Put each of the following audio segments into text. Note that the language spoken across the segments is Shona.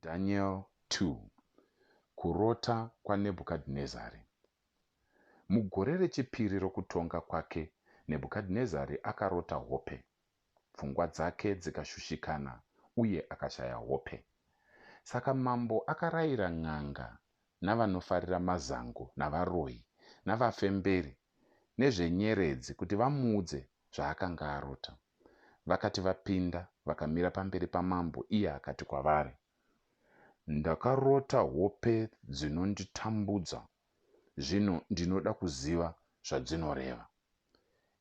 Daniel 2 Kurota kwaNebhukadhinezari Mugore rechipiri rokutonga kwake, Nebhukadhinezari akarota hope, pfungwa dzake dzikashushikana, uye akashaya hope. Saka mambo akarayira n'anga navanofarira mazango navaroyi navafemberi nezvenyeredzi kuti vamuudze zvaakanga arota. Vakati vapinda, vakamira pamberi pamambo, iye akati kwavari, Ndakarota hope dzinonditambudza, zvino ndinoda kuziva zvadzinoreva.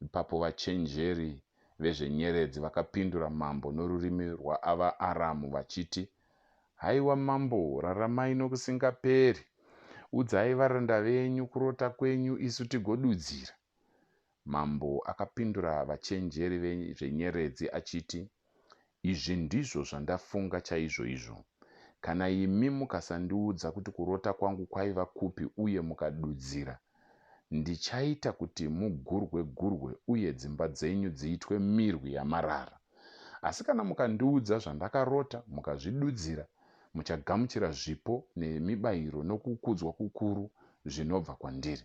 Ipapo vachenjeri vezvenyeredzi vakapindura mambo norurimi rwaAvaaramu vachiti, Haiwa mambo, raramai nokusingaperi! Udzai varanda venyu kurota kwenyu isu tigodudzira. Mambo akapindura vachenjeri vezvenyeredzi achiti, Izvi ndizvo zvandafunga chaizvoizvo. Kana imi mukasandiudza kuti kurota kwangu kwaiva kupi uye mukadudzira, ndichaita kuti mugurwe-gurwe uye dzimba dzenyu dziitwe mirwi yamarara. Asi kana mukandiudza zvandakarota mukazvidudzira, muchagamuchira zvipo nemibayiro nokukudzwa kukuru zvinobva kwandiri.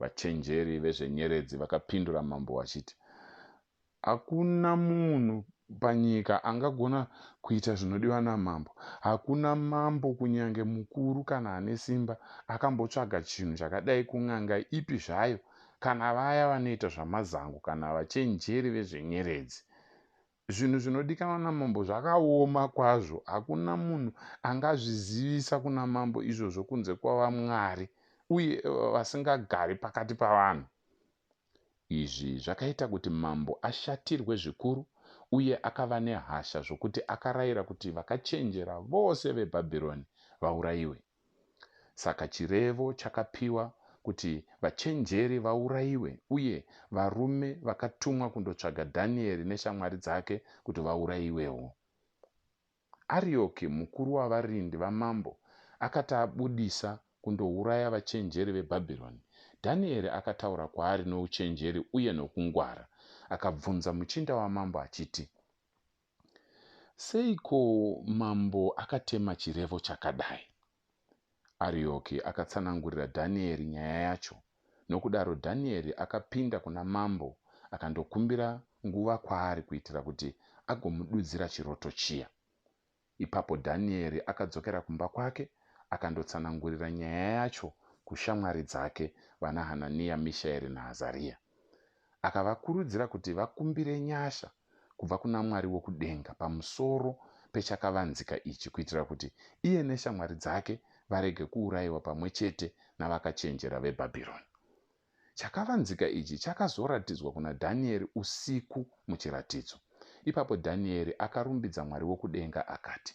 Vachenjeri vezvenyeredzi vakapindura mambo vachiti, Hakuna munhu panyika angagona kuita zvinodiwa namambo. Hakuna mambo, kunyange mukuru kana ane simba, akambotsvaga chinhu chakadai kun'anga ipi zvayo, kana vaya vanoita zvamazango kana vachenjeri vezvenyeredzi. Zvinhu zvinodikanwa namambo zvakaoma kwazvo. Hakuna munhu angazvizivisa kuna mambo izvozvo kunze kwavamwari uye vasingagari pakati pavanhu. Izvi zvakaita kuti mambo ashatirwe zvikuru uye akava nehasha zvokuti akarayira kuti vakachenjera vose veBhabhironi vaurayiwe. Saka chirevo chakapiwa kuti vachenjeri vaurayiwe uye varume vakatumwa kundotsvaga Dhanieri neshamwari dzake kuti vaurayiwewo. Arioki, mukuru wavarindi vamambo, akati abudisa kundouraya vachenjeri veBhabhironi, Dhanieri akataura kwaari nouchenjeri uye nokungwara. Akabvunza muchinda wamambo achiti, Seiko mambo akatema chirevo chakadai? Arioki akatsanangurira Dhanieri nyaya yacho. Nokudaro Dhanieri akapinda kuna mambo akandokumbira nguva kwaari kuitira kuti agomududzira chiroto chiya. Ipapo Dhanieri akadzokera kumba kwake akandotsanangurira nyaya yacho kushamwari dzake vanaHanania, Mishaeri naAzaria. Akavakurudzira kuti vakumbire nyasha kubva kuna Mwari wokudenga pamusoro pechakavanzika ichi kuitira kuti iye neshamwari dzake varege kuurayiwa pamwe chete navakachenjera veBhabhironi. Chakavanzika ichi chakazoratidzwa kuna Dhanieri usiku muchiratidzo. Ipapo Dhanieri akarumbidza Mwari wokudenga akati,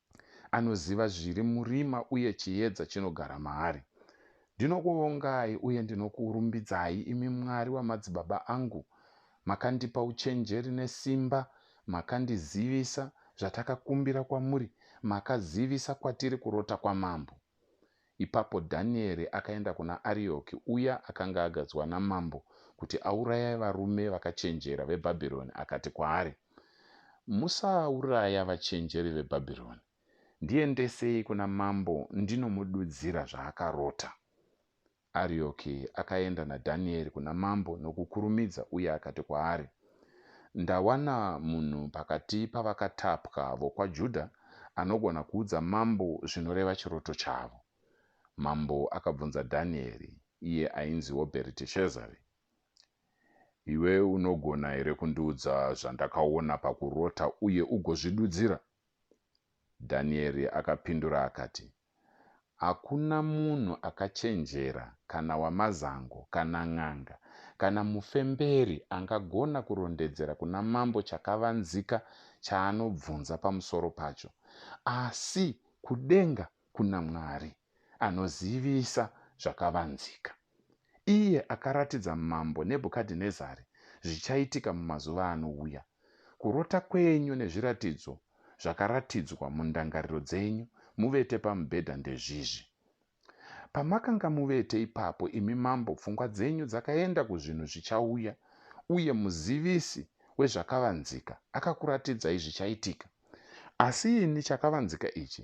Anoziva zviri murima uye chiedza chinogara maari. Ndinokuvongai uye ndinokurumbidzai, imi Mwari wamadzibaba angu. Makandipa uchenjeri nesimba, makandizivisa zvatakakumbira kwamuri, makazivisa kwatiri kurota kwamambo. Ipapo Dhanieri akaenda kuna Arioki, uya akanga agadzwa namambo kuti auraye varume vakachenjera veBhabhironi, akati kwaari, Musauraya vachenjeri veBhabhironi. Ndiendesei kuna mambo ndinomududzira zvaakarota. Arioki akaenda naDhanieri kuna mambo nokukurumidza uye akati kwaari, Ndawana munhu pakati pavakatapwa vokwaJudha anogona kuudza mambo zvinoreva chiroto chavo. Mambo akabvunza Dhanieri, iye ainziwo Bheriteshazari, Iwe unogona here kundiudza zvandakaona pakurota uye ugozvidudzira? Dhanieri akapindura akati, Hakuna munhu akachenjera, kana wamazango, kana n'anga, kana mufemberi angagona kurondedzera kuna mambo chakavanzika chaanobvunza pamusoro pacho, asi kudenga kuna Mwari, anozivisa zvakavanzika. Iye akaratidza mambo Nebhukadhinezari zvichaitika mumazuva anouya. Kurota kwenyu nezviratidzo zvakaratidzwa mundangariro dzenyu muvete pamubhedha ndezvizvi. Pamakanga muvete ipapo, imi mambo, pfungwa dzenyu dzakaenda kuzvinhu zvichauya, uye muzivisi wezvakavanzika akakuratidzai zvichaitika. Asi ini chakavanzika ichi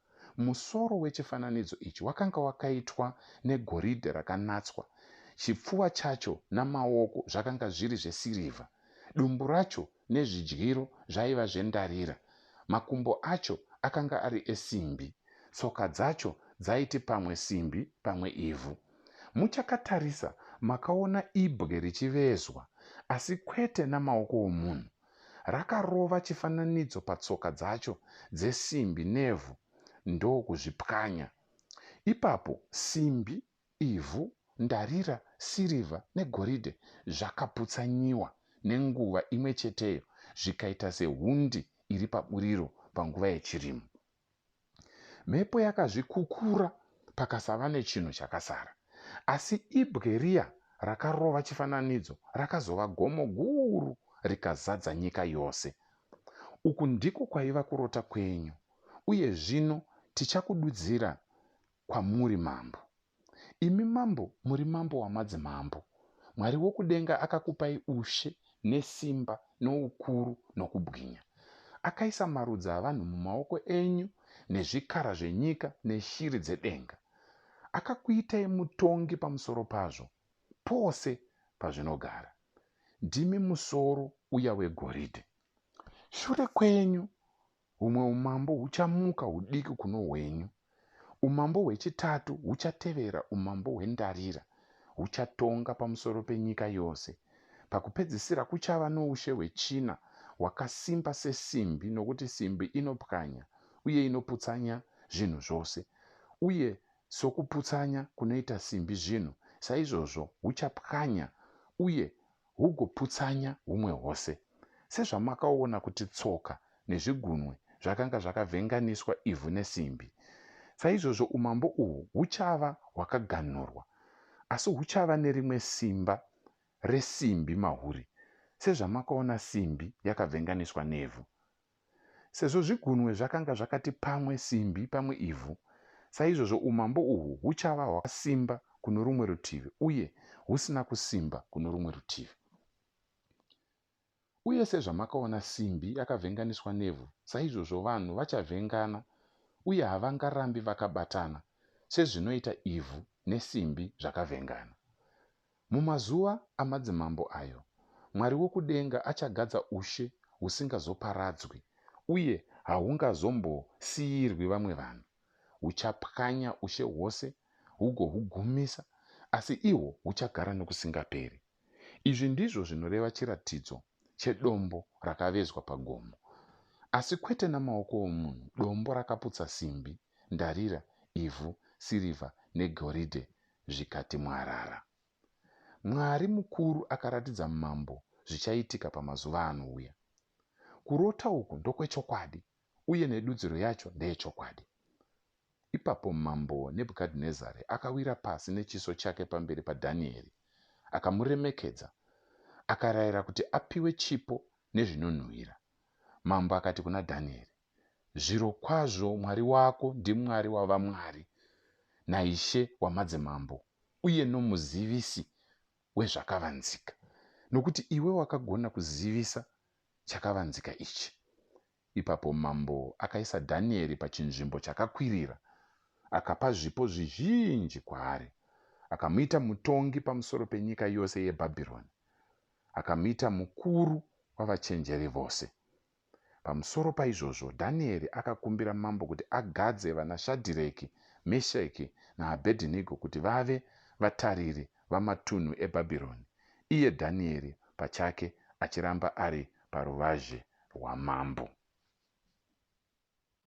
Musoro wechifananidzo ichi wakanga wakaitwa negoridhe rakanatswa, chipfuva chacho namaoko zvakanga zviri zvesirivha, dumbu racho nezvidyiro zvaiva zvendarira, makumbo acho akanga ari esimbi, tsoka dzacho dzaiti pamwe simbi pamwe ivhu. Muchakatarisa makaona ibwe richivezwa, asi kwete namaoko omunhu. Rakarova chifananidzo patsoka dzacho dzesimbi nevhu ndokuzvipwanya. Ipapo simbi, ivhu, ndarira, sirivha negoridhe zvakaputsanyiwa nenguva imwe cheteyo zvikaita sehundi iri paburiro panguva yechirimo. Mhepo yakazvikukura pakasava nechinhu chakasara. Asi ibwe riya rakarova chifananidzo rakazova gomo guru rikazadza nyika yose. Uku ndiko kwaiva kurota kwenyu, uye zvino tichakududzira kwamuri mambo. Imi mambo muri mambo wamadzimambo. Mwari wokudenga akakupai ushe nesimba noukuru nokubwinya. Akaisa marudzi avanhu mumaoko enyu nezvikara zvenyika neshiri dzedenga. Akakuitai mutongi pamusoro pazvo pose pazvinogara. Ndimi musoro uya wegoridhe. Shure kwenyu Humwe umambo huchamuka hudiki kuno hwenyu, umambo hwechitatu huchatevera umambo hwendarira, huchatonga pamusoro penyika yose. Pakupedzisira kuchava noushe hwechina, hwakasimba sesimbi, nokuti simbi inopwanya uye inoputsanya zvinhu zvose, uye sokuputsanya kunoita simbi zvinhu, saizvozvo huchapwanya uye hugoputsanya humwe hwose. Sezvamakaona kuti tsoka nezvigunwe zvakanga zvakavhenganiswa ivhu nesimbi, saizvozvo umambo uhwu huchava hwakaganhurwa, asi huchava nerimwe simba resimbi mahuri, sezvamakaona simbi yakavhenganiswa nevhu. Sezvo zvigunwe zvakanga zvakati pamwe simbi pamwe ivhu, saizvozvo umambo uhwu huchava hwakasimba kuno rumwe rutivi uye husina kusimba kuno rumwe rutivi. Uye sezvamakaona simbi yakavhenganiswa nevhu, saizvozvo vanhu vachavhengana uye havangarambi vakabatana sezvinoita ivhu nesimbi zvakavhengana. Mumazuva amadzimambo ayo, Mwari wokudenga achagadza ushe husingazoparadzwi uye hahungazombosiirwi vamwe vanhu. Huchapwanya ushe hwose hugohugumisa, asi ihwo huchagara nokusingaperi. Izvi ndizvo zvinoreva chiratidzo chedombo rakavezwa pagomo, asi kwete namaoko omunhu, dombo rakaputsa simbi, ndarira, ivhu, sirivha, negoridhe, zvikati mwarara. Mwari mukuru akaratidza mambo zvichaitika pamazuva anouya. Kurota uku ndokwechokwadi uye nedudziro yacho ndeyechokwadi. Ipapo Mambo Nebhukadhinezari akawira pasi nechiso chake pamberi paDhanieri, akamuremekedza, akarayira kuti apiwe chipo nezvinonhuhwira. Mambo akati kuna Dhanieri, Zvirokwazvo Mwari wako ndiMwari wavamwari, naIshe wamadzimambo, uye noMuzivisi wezvakavanzika, nokuti iwe wakagona kuzivisa chakavanzika ichi. Ipapo mambo akaisa Dhanieri pachinzvimbo chakakwirira, akapa zvipo zvizhinji kwaari, akamuita mutongi pamusoro penyika yose yeBhabhironi, akamuita mukuru wavachenjeri vose. Pamusoro paizvozvo, Dhanieri akakumbira mambo kuti agadze vanaShadhireki, Mesheki naAbhedhinigo kuti vave vatariri vamatunhu eBhabhironi, iye Dhanieri pachake achiramba ari paruvazhe rwamambo.